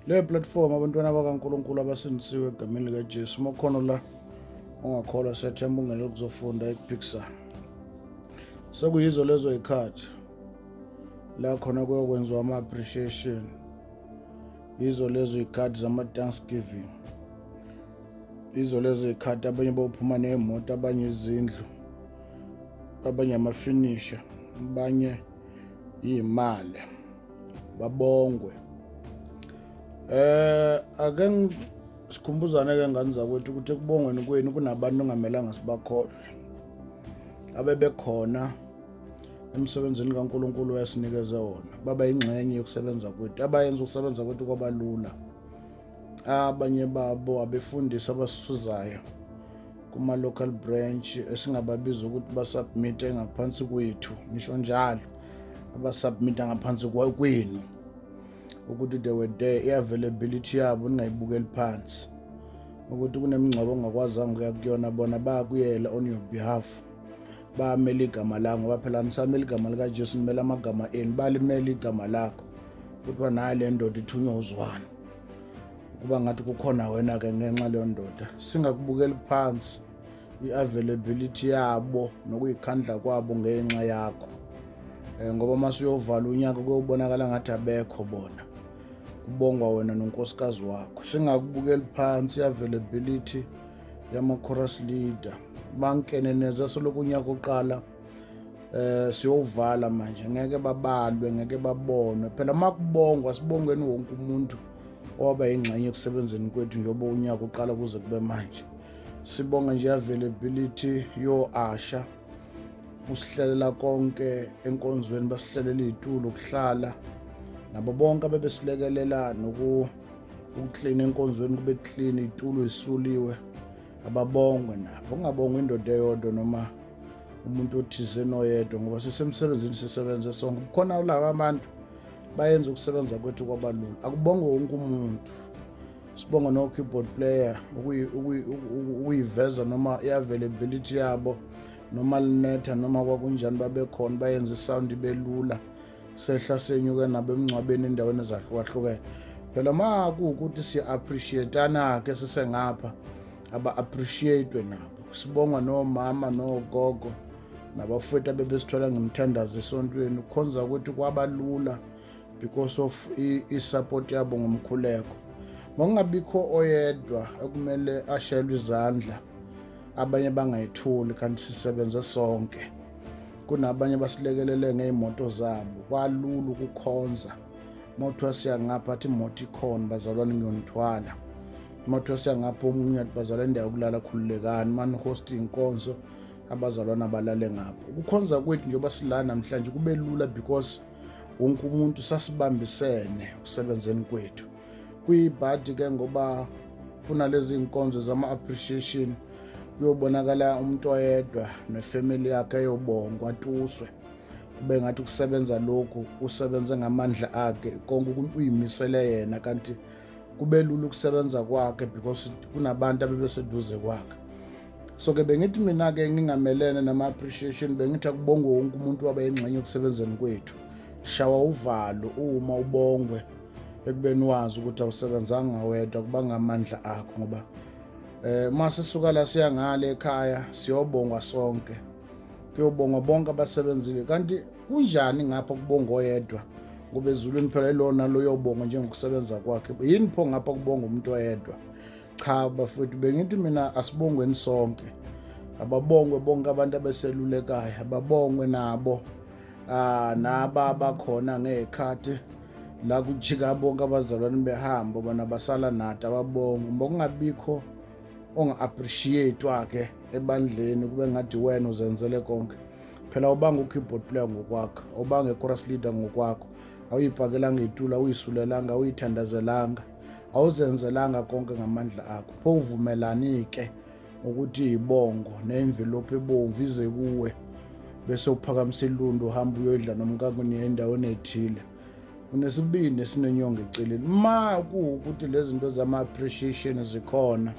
leyo platform abantwana bakaNkulunkulu abasindisiwe egameni likaJesu uma khona la ongakholwa siyathemba ungene ukuzofunda ekuphikisana sekuyizo lezo yikhathi la khona kuyokwenziwa ama-appreciation yizo lezo yikhathi zama-thanksgiving yizo lezo yikhathi abanye bophuma ney'moto abanye izindlu abanye amafinisha abanye iy'mali babongwe eh ake sikhumbuzane ke ngane zakwethu ukuthi ekubongweni kwenu kunabantu ongamelanga sibakhona abebekhona emsebenzini kaNkuluNkulu wayesinikeze wona baba ingxenye yokusebenza kwethu abayenza ukusebenza kwethu kwabalula abanye babo abefundisi abasuzayo kuma-local branch esingababiza ukuthi basubmite ngaphansi kwethu ngisho njalo abasubmita ngaphansi kwenu ukuthi they were there i-availability yabo ningayibukeli phansi ukuthi kunemingcwabo ongakwazanga ukuya kuyona bona bayakuyela on your behalf bamele igama la ngoba phela nisamele igama likajesu nimele amagama enu balimele igama lakho kuthiwa naye le ndoda ithunywa uzwana kuba ngathi kukhona wena-ke ngenxa leyo ndoda singakubukeli phansi i-availability yabo nokuyikhandla kwabo ngenxa yakho um ngoba uma suyovala unyaka kuyobonakala ngathi abekho bona kubongwa wena nonkosikazi wakho singakubukeli phansi i-availability yama-chorus leader bankene neza soloko unyaka uqala eh siyovala manje ngeke babalwe ngeke babonwe phela uma kubongwa sibongweni wonke umuntu owaba yingxenye ekusebenzeni kwethu njengoba unyaka uqala kuze kube manje sibonga nje availability yo-asha usihlelela konke enkonzweni basihlelela iy'tulo ukuhlala nabo bonke abebesilekelela noku ukuklina enkonzweni kube kuklina itulo isuliwe ababongwe nabo ungabongwa indoda eyodwa noma umuntu othize noyedwa ngoba sisemsebenzini sisebenze sonke kukhona ulaba abantu bayenza ukusebenza kwethu kwabalula akubongwe wonke umuntu sibonga no-keyboard player ukuyiveza noma i-availability yabo noma linetha noma kwakunjani babekhona bayenza isound ibelula lula sehla senyuke nabo emngcwabeni endaweni ezahlukahlukene phela ma kuwukuthi siya-appreciatana-ke sisengapha aba-appreciatwe nabo sibonga nomama nogogo nabafowethu abebesithola ngemthandazo esontweni kukhonza ukuthi kwabalula because of i-support yabo ngomkhuleko ngokungabikho oyedwa ekumele ashelwe izandla abanye bangayitholi kanti sisebenze sonke kunabanye abasilekelele ngey'moto zabo kwalula ukukhonza uma kuthiwa siyangapha athi imoto ikhona bazalwane ngiyonithwala uma kuthiwa siyangapha omunye athi bazalwa indawo yokulala khululekani uma nihosta iy'nkonzo abazalwane abalale ngapho ukukhonza kwethu njengoba sila namhlanje kube lula because wonke umuntu sasibambisene kusebenzeni kwethu kuyibhadi ke ngoba kunalezi nkonzo zama-appreciation kuyobonakala umuntu oyedwa nefamily yakhe eyobongwa tuswe kube ngathi ukusebenza lokhu usebenze ngamandla akhe konke uyimisele yena kanti kube lula ukusebenza kwakhe because kunabantu abebeseduze kwakhe so ke bengithi mina-ke ngingamelene nama-appreciation bengithi akubongwe wonke umuntu wabe yingxenye ekusebenzeni kwethu shawa uvalo uma ubongwe ekubeni wazi ukuthi awusebenzanga wedwa kubanga amandla akho ngoba eh uma sisuka la siya ngale ekhaya siyobongwa sonke kuyobongwa bonke abasebenzile kanti kunjani ngapha kubonga oyedwa ngoba ezulwini phela ilona loyobonga njengokusebenza kwakhe yini pho ngapha kubonga umuntu oyedwa cha bafowethu bengithi mina asibongweni sonke ababongwe bonke abantu abeselulekayo ababongwe nabo ah naba abakhona ngekhathi la kujika bonke abazalwane behamba bona basala nati ababonga uma kungabikho onga-appreciate-wa-ke ebandleni kube ngathi wena uzenzele konke phela ubanga u-keyboard player ngokwakho ubanga i-chorus leader ngokwakho awuyibhakelanga itula awuyisulelanga awuyithandazelanga awuzenzelanga konke ngamandla akho pho uvumelani-ke ukuthi yibongo nemvelophi ebomvu ize kuwe bese uphakamisa ilundu uhamba uyoyidla nomkakweni endaweni ethile unesibindi esinenyongo eceleni ma kuwukuthi lezi zinto zama-appreciation zikhona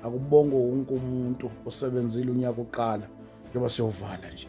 akubongo wonke umuntu osebenzile unyaka uqala njengoba siyovala nje